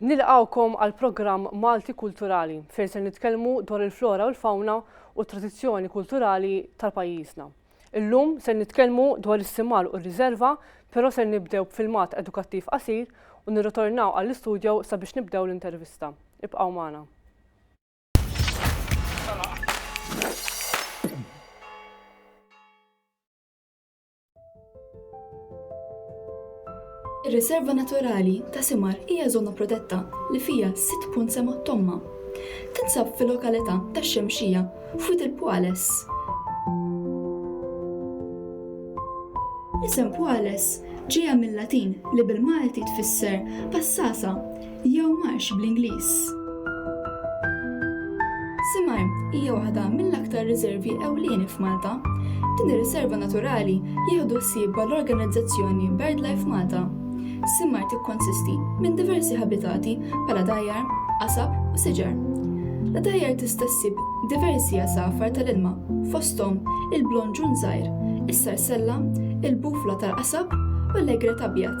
Nilqgħukom għall-programm Malti Kulturali fejn se nitkellmu dwar il-flora u l-fawna u t-tradizzjoni kulturali tal-pajjiżna. Illum se nitkellmu dwar is-simar u r-riżerva, però se nibdew b'filmat edukattiv qasir u nirritornaw għall-istudio sabiex nibdew l-intervista. Ibqgħu magħna. Ir-Riserva Naturali ta' Simar hija żona protetta li fiha sitt punt sema' Tomma. Tinsab fil-lokalità tax-Xemxija, f'Wied il-Pwales. L-isem Pwales ġejja mil-Latin li bil-Malti tfisser passasa. jew marx bl-Ingliż. Simar hija waħda mill-aktar riservi ewlieni f'Malta. Din ir-riserva naturali jieħdu ħsiebha l-organizzazzjoni BirdLife Malta. Simar tikkonsisti minn diversi ħabitati bħala dgħajjar, qasab u siġar. L-dgħajjar tista' ssib diversi għasafar tal-ilma, fosthom il-blonġun żgħir, is-sarsella, il-bufla tal-qasab u l-egret abjad.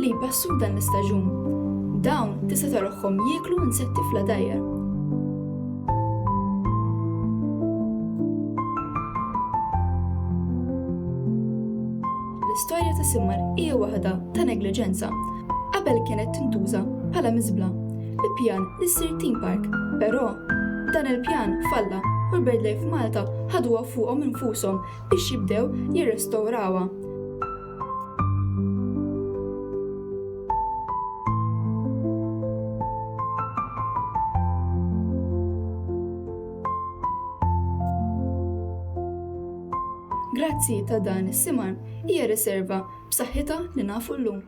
li jbessu f'dan l-istaġun. Dawn tista' taroħħom jieklu insetti fl-għadajjar. L-istorja ta' Simmar hija waħda ta' negliġenza. Qabel kienet tintuża bħala miżbla bi pjan li ssir theme park, però dan il-pjan falla u l-Birdlife Malta ħaduha fuqhom infushom biex jibdew jirrestawrawha. Grazzi ta' dan is-simar hija riserva b'saħħitha li nafu llum.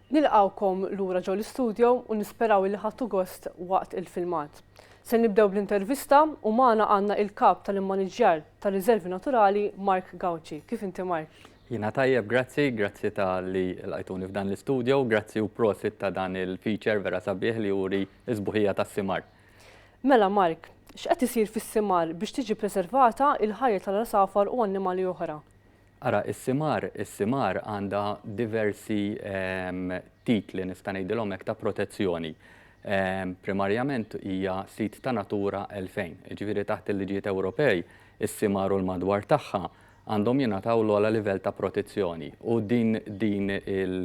Nilqgħukom lura ġo l-istudio u nisperaw illi ħadtu gost waqt il-filmat. Se nibdew bl-intervista u magħna għandna il-Kap tal-Immaniġġjar tar-Riżervi Naturali Mark Gauci. Kif inti Mark? Jiena tajjeb grazzi, grazzi talli lqajtuni f'dan l-istudio u grazzi u prosit ta' dan il-feature vera sabiħ li juri s-sbuħija tas-simar. Mela Mark, x'qed isir fis-simar biex tiġi preservata il-ħajja tal-għasafar u annimali oħra? Ara is-simar, is-simar għandha diversi titli, nista' ngħidilhom hekk, ta' protezzjoni. Primarjament hija sit ta' Natura 2000, jiġifieri taħt il-liġijiet Ewropej, is-simar u l-madwar tagħha għandhom jingħataw l-ogħla livell ta' protezzjoni u din din il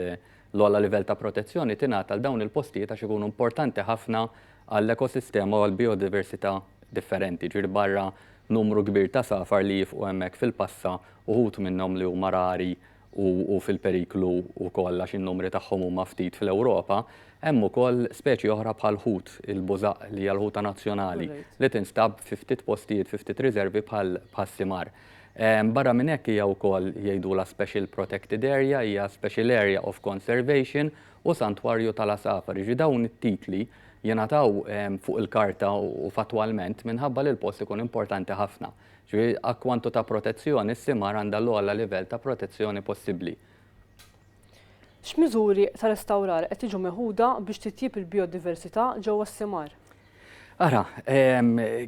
l-ogħla livell ta' protezzjoni tingħata għal dawn il-postijiet għax ikunu importanti ħafna għall-ekosistema u għall-bijodiversità differenti, jiġifieri barra Numru kbir ta' safar li jifqu hemmhekk fil-passa, uħud minnhom li huma rari u fil-periklu wkoll għax in-numri tagħhom huma ftit fl-Ewropa. Hemm ukoll speċi oħra bħall-ħut, il-bużaq li hija l-ħuta nazzjonali, li tinstab fi ftit postijiet, fi ftit riservi bħas-simar. Barra minn hekk hija wkoll jgħidulha special protected area, hija special area of conservation u santwarju tal-għasafar. Jiġifieri dawn it-titli jingħataw fuq il-karta u fattwalment minħabba li l-post ikun importanti ħafna. Ġifieri, a kwantu ta' protezzjoni, s-simar għandha l-ogħla livell ta' protezzjoni possibbli. X'miżuri ta' restawrar qed jiġu meħuda biex titjieb il-bijodiversità ġewwa s-simar? Ara,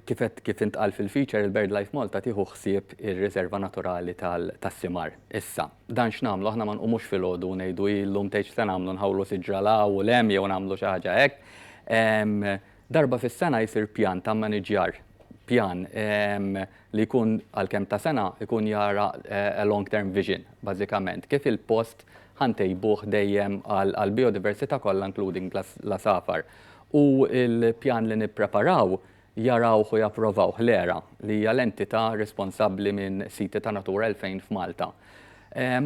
kif intqal fil-feature, il-BirdLife Malta tieħu ħsieb ir-Riserva Naturali tas-Simar issa. Dan x'nagħmlu, aħna ma nqumux filgħodu u ngħidu hi llum tgħid x'se nagħmlu, nħawlu siġra 'l hawn u 'l hemm jew nagħmlu xi ħaġa hekk. Darba fis-sena jsir pjan ta' mmaniġjar, pjan li jkun għal kemm ta' sena jkun jara a long term vision bażikament, kif il-post ħa ntejbuh dejjem għall-bijodiversità kollha including l-għasafar. U l-pjan li nippreparaw jarawh u japprovawh l-ERA, li hija l-entità responsabbli minn siti ta' Natura 2000 f'Malta.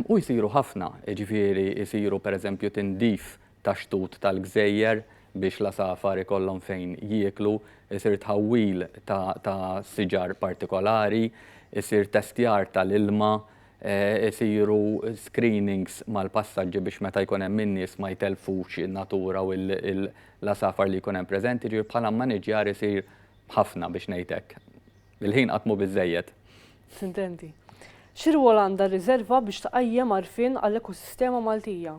U jsiru ħafna, jiġifieri jsiru pereżempju tindif tax-xtut tal-gżejjer biex l-għasafar ikollhom fejn jieklu, isir tħawwil ta' siġar partikolari, isir testjar tal-ilma, isiru screenings mal-passaġġi biex meta jkun hemm in-nies ma jtellfux in-natura u L-għasafar li jkun hemm preżenti, jiġifieri bħala mmaniġġjar isir ħafna biex ngħid hekk. Il-ħin qatt mhu biżżejjed. Tintendi. Xi rwol għandha r-riżerva biex tqajjem għarfien għall-ekosistema Maltija?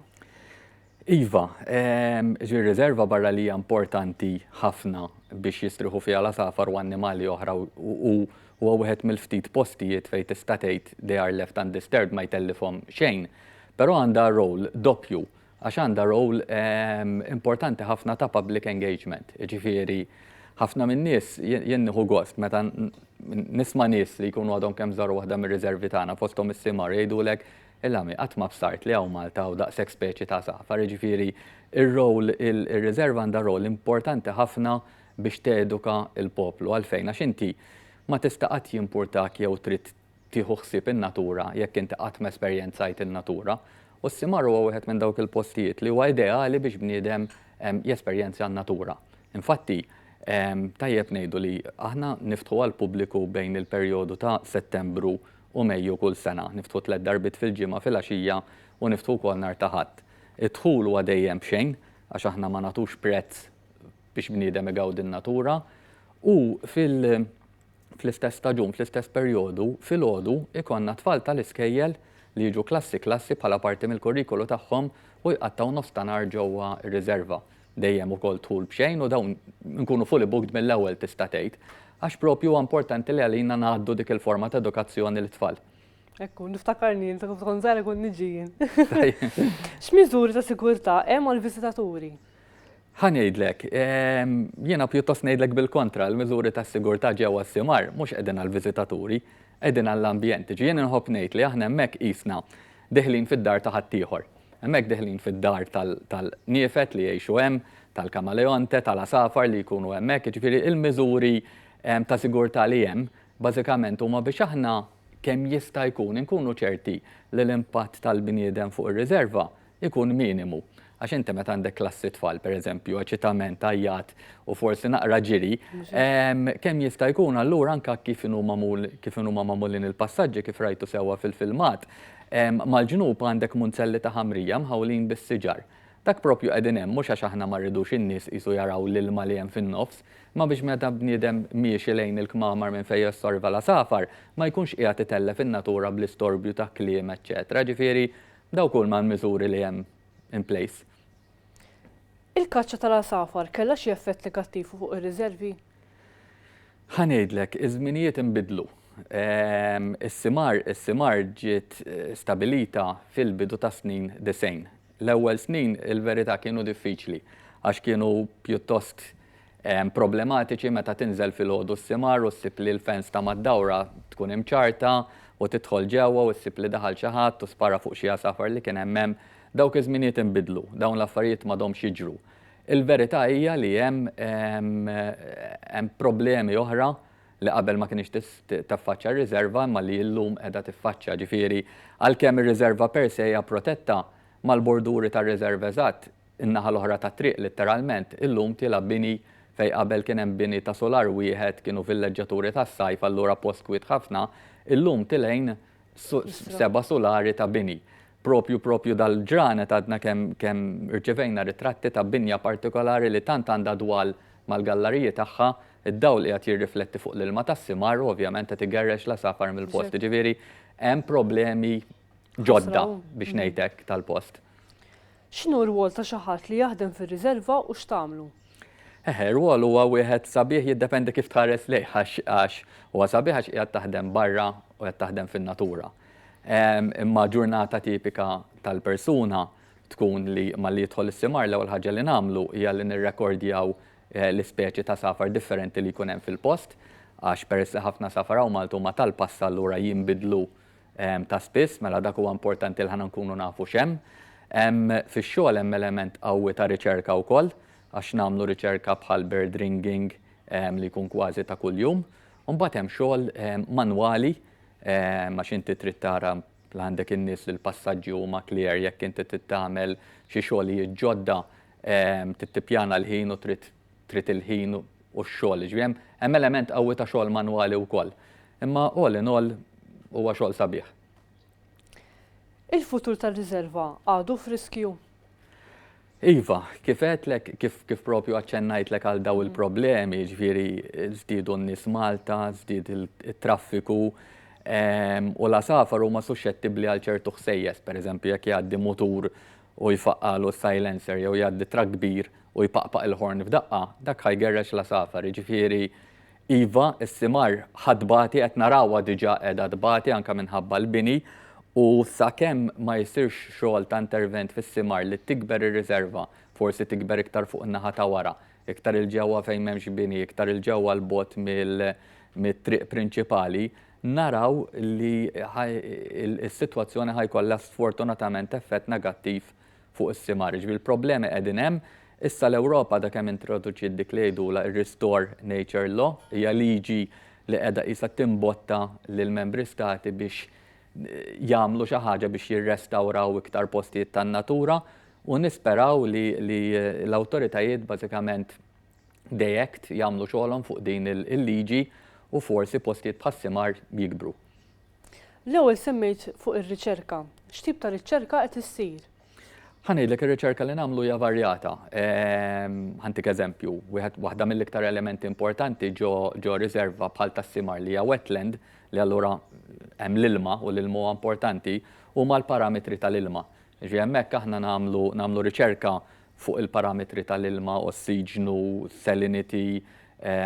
Iva, ġifieri r-riżerva barra li hija importanti ħafna biex jistrieħu fiha l-għasafar u annimali oħra u huwa wieħed mill-ftit postijiet fejn tista' tgħid they are left undisturbed ma jtellifhom xejn, però għandha role doppju. għax għandha role importanti ħafna ta' public engagement. Jiġifieri ħafna min-nies jien nieħu gost meta nisma' nies li jkunu għadhom kemm żaru waħda mir-riservi tagħna fosthom is-simgħar jgħidulek, il-għami qatt ma bsart li hawn Malta hawn daqshekk speċi ta' għasafar. Jiġifieri r-role, ir-riserva għandha role importanti ħafna biex teduka l-poplu. Għalfejn? Għax inti ma tista' qatt jimpurtak jew trid tieħu ħsieb in-natura jekk inti qatt ma esperjenzajt in-natura, u s-Simar huwa wieħed minn dawk il-postijiet li huwa ideali biex bniedem jesperjenzja n-natura. Infatti, tajjeb ngħidu li aħna niftħu għall-pubbliku bejn il-perjodu ta' Settembru u Mejju kull sena. Niftħu tliet darbiet fil-ġimgħa filgħaxija u niftħu wkoll nhar ta' Ħadd. Id-dħul huwa dejjem b'xejn għax aħna ma nagħtux prezz biex bniedem igawdi n-natura u fil. fl-istess staġun, fl-istess perjodu, filgħodu jkollna t-tfal tal-iskejjel li jiġu klassi klassi bħala parti mill-kurrikulu tagħhom u jqattgħu nofs ta' nhar ġewwa r-riserva. Dejjem ukoll dħul b'xejn u dawn inkunu fully booked mill-ewwel tista' tgħid. Għax proprju huwa importanti li għalina ngħaddu dik il-forma ta' edukazzjoni lit-tfal. Hekk hu, niftakarni meta kont żgħira kont niġi jien. X'miżuri ta' sigurtà hemm għall-viżitaturi? Ħa ngħidlek. Jiena pjuttost ngħidlek bil-kontra, l-miżuri ta' sigurtà ġewwa s-simgħar mhux qegħdin għall-viżitaturi, qegħdin għall-ambjent. Jiġifieri jien inħobb ngħid li aħna hemmhekk qisna diħlin fid-dar ta' ħaddieħor. Hemmhekk diħlin fid-dar tal-niefed li jgħixu hemm, tal-kamaleonte, tal-għasafar li jkunu hemmhekk, jiġifieri l-miżuri ta' sigurtà li hemm bażikament huma biex aħna kemm jista' jkun inkunu ċerti li l-impatt tal-bniedem fuq ir-riżerva ikun minimu. Għax inti meta għandek klassi tfal, per eżempju, eċitament, għajjat u forsi naqra ġiri, kemm jista' jkun allura anke kif inhu magħmul, kif inhu magħmulin il-passaġġi kif rajtu sewwa fil-filmat, mal-ġnub għandek munzelli ta' ħamrija mħawlin bis-siġar. Dak propju qegħdin hemm mhux għax aħna ma rridux in-nies qisu jaraw l-ilma li hemm fin-nofs, imma biex meta bniedem miexi lejn il-kmamar minn fejn jossorva l-għasafar ma jkunx qiegħed itellef in-natura bl-istorbju ta' kliem eċċetera. Ġifieri, Dawk huma l-miżuri li hemm in place. Il-kaċċa tal-għasafar kellha xi effett negattiv fuq ir-riżervi? Ħa ngħidlek, iż-żminijiet inbidlu. Is-simar, is-simar ġiet stabilita fil-bidu tas-snin disgħin. L-ewwel snin il-verità kienu diffiċli għax kienu pjuttost problematiċi meta tinżel filgħodu s-simgħar u ssib li l-fence ta' mad-dawra tkun imċarrta u tidħol ġewwa u ssib li daħal xi ħadd u spara fuq xi għasafar li kien hemm hemm. Dawk iż-żminijiet inbidlu. Dawn l-affarijiet m'għadhomx jiġru. Il-verità hija li hemm hemm problemi oħra li qabel ma kinitx taffaċċja r-riżerva imma li llum qiegħda tiffaċċja. Ġifieri għalkemm ir-riżerva per se hija protetta, mal-borduri tar-riżerva eżatt In-naħa l-oħra tat-triq litteralment, illum tilgħab bini fejn qabel kien hemm bini ta' sular wieħed, kienu villeġġaturi tas-sajf allura post kwiet ħafna, illum tilgħin seba' sulari ta' bini. Proprju proprju dal-ġranet għadna kemm kemm rċevejna ritratti ta' binja partikolari li tant għandha dwal mal-gallariji tagħha, id-dawl qiegħed jirrifletti fuq l-ilma tas-simar u ovvjament qed igerrex l-għasafar mill-post. Jiġifieri hemm problemi ġodda biex ngħidlek tal-post. X'inhu r-rwol ta' xi ħadd li jaħdem fir-riserva u x'tagħmlu? Eħe, r-rwol huwa wieħed sabiħ jiddependi kif tħares lejh għax huwa sabiħ għax qiegħed taħdem barra u qed taħdem fin-natura. Imma ġurnata tipika tal-persuna tkun li malli jidħol is-simar l-ewwel ħaġa li nagħmlu hija li nirrekordjaw eh, l-ispeċi ta' safar differenti li jkun hemm fil-post għax peress li ħafna safar hawn Malta huma tal-passa allura jinbidlu ta' spiss, mela dak huwa importanti li aħna nkunu nafu x'hemm. Fix-xogħol hemm element qawwi ta' riċerka wkoll, għax nagħmlu riċerka bħal bird ringing li jkun kważi ta' kuljum. U mbagħad hemm xogħol manwali għax inti trid tara li għandek in-nies li l-passaġġi huma clear jekk inti trid tagħmel xi xogħlijiet ġodda trid tippjana l-ħin u trid trid il-ħin u x-xogħol, jiġifieri hemm hemm element qawwi ta' xogħol manwali wkoll. Imma all in all huwa xogħol sabiħ. Il-futur tar-riserva għadu f'riskju? Iva, kif għedtlek, kif, kif propju għacċennajtlek għal daw il-problemi, ġviri zdidu n-nis Malta, zdid il-traffiku, u la safar huma suscettibli għal ċertu ħsejjes, per eżempju, jekk jgħaddi mutur u jfaqqagħlu s-silencer jew jgħaddi trakk kbir u jpaqpaq il-horn f'daqqa, dak ħa jgerrex l-għasafar. Jiġifieri, iva, is-simar ħa tbati, qed narawha diġà qiegħda tbati anke minħabba l-bini u sakemm ma jsirx xogħol ta' intervent fis-simar li tikber ir-riserva, forsi tikber iktar fuq in-naħa ta' wara, iktar 'il ġewwa fejn m'hemmx bini, iktar 'il ġewwa 'l bogħod mit-triq prinċipali, naraw li s-sitwazzjoni ħa jkollha sfortunatament effett negattiv fuq is-simgħar. Jiġifieri l-problemi qegħdin hemm. Issa l-Ewropa għadha kemm introduċiet dik li jgħidulha r-Restore Nature Law. Hija liġi li qiegħda qisha timbotta lill-Membri Stati biex jagħmlu xi ħaġa biex jirrestawraw iktar postijiet tan-natura u nisperaw li l-awtoritajiet bażikament They act, jagħmlu xogħolhom fuq din il-liġi u forsi postijiet bħas-simar jikbru. L-ewwel semmejt fuq ir-riċerka. X'tip ta' riċerka qed issir? Ħa ngħidlek ir-riċerka li nagħmlu hija varjata. Ehm, ħantik eżempju, wieħed waħda mill-iktar elementi importanti ġo riserva bħal tas-simar li hija wetland li allura hemm l-ilma u l-ilma huwa importanti huma l-parametri tal-ilma. Ġi hemmhekk aħna nagħmlu riċerka fuq il-parametri tal-ilma, ossiġnu, salinity,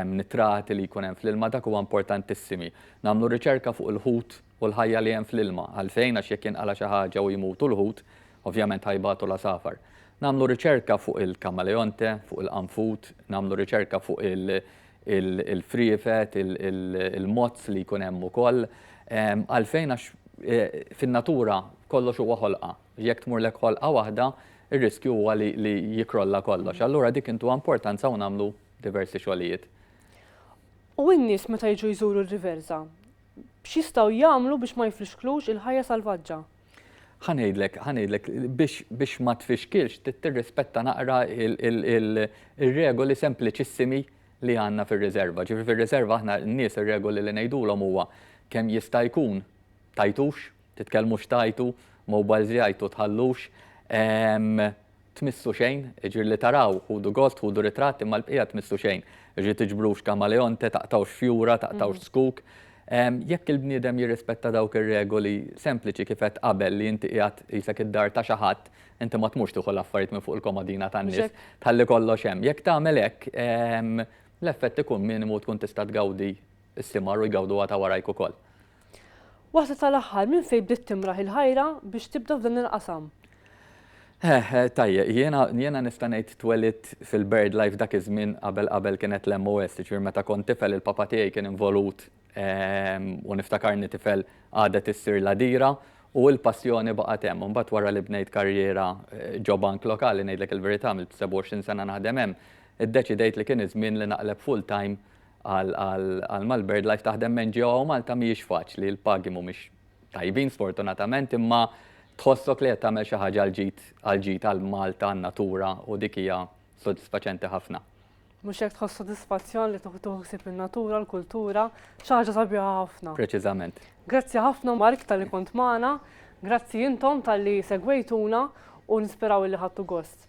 nitrati li jkun hemm fl-ilma, dak huwa importantissimi. Nagħmlu riċerka fuq il-ħut u l-ħajja li hemm fl-ilma. Għalfejn? Għax jekk jinqala' xi ħaġa u jmutu l-ħut, ovvjament ħa jbatu l-għasafar. Nagħmlu riċerka fuq il-kamaleonte, fuq il-qanfud, nagħmlu riċerka fuq il-friefet, il-mozz li jkun hemm ukoll. Għalfejn? Għax fin-natura kollox huwa ħolqa. Jekk tmurlek ħolqa waħda, ir-riskju huwa li li jikrolla kollox. Allura dik intuha importanza u nagħmlu diversi xogħlijiet. U n-nies meta jiġu jżuru r-Riversa, x'jistgħu jagħmlu biex ma jfixklux il-ħajja salvaġġa? Ħa ngħidlek, ħa ngħidlek, biex biex ma tfixkilx trid tirrispetta naqra ir-regoli sempliċissimi li għandna fir-riserva. Ġifieri fir-riserva aħna n-nies ir-regoli li ngħidulhom huwa kemm jista' jkun Tgħajtux, titkellmux tgħajtu, mobiles jgħajtu tħallux, tmissu xejn, jiġifieri li taraw, ħudu gost, ħudu ritratt imma l-bqija tmissu xejn. Jiġifieri tiġbrux kamaleonte, taqtgħux fjura, taqtgħux zkuk. Jekk il-bniedem jirrispetta dawk ir-regoli sempliċi kif għedt qabel li inti qiegħed qisek id-dar ta' xi ħadd, inti ma tmurx tieħu l-affarijiet minn fuq il-komodina tan-nies, tħalli kollox hemm. Jekk tagħmel hekk, l-effett ikun minimu u tkun tista' tgawdi s-simgħar u jgawduha ta' warajk ukoll. Waħda tal-aħħar, minn fejn bdiet timraħ il-ħajra biex tibda f'dan il-qasam? Eħ, tajjeb, jiena jiena nista' ngħid twelidt fil-birdlife dak iż-żmien qabel qabel kienet l-MOS, jiġifieri meta kont tifel il-papa tiegħi kien involut u niftakarni tifel qagħdet issir l-għadira u l-passjoni baqgħet hemm. Imbagħad wara li bnejt karriera ġo bank lokali ngħidlek il-verità għamilt 27 sena naħdem hemm, iddeċidejt li kien iż-żmien li naqleb full-time Għal ma l-BirdLife taħdem ma' NGO hawn Malta mhijiex faċli, il-pagi mhumiex tajbin sfortunatament imma tħossok li qed tagħmel xi ħaġa għall-ġid għal Malta, għan-natura u dik hija sodisfaċenti ħafna. Mhux hekk tħoss sodisfazzjon li tieħu ħsieb in-natura, l-kultura, xi ħaġa sabiħa ħafna. Preċiżament. Grazzi ħafna Mark talli kont magħna, grazzi intom talli segwejtuna u nisperaw li ħadtu gost.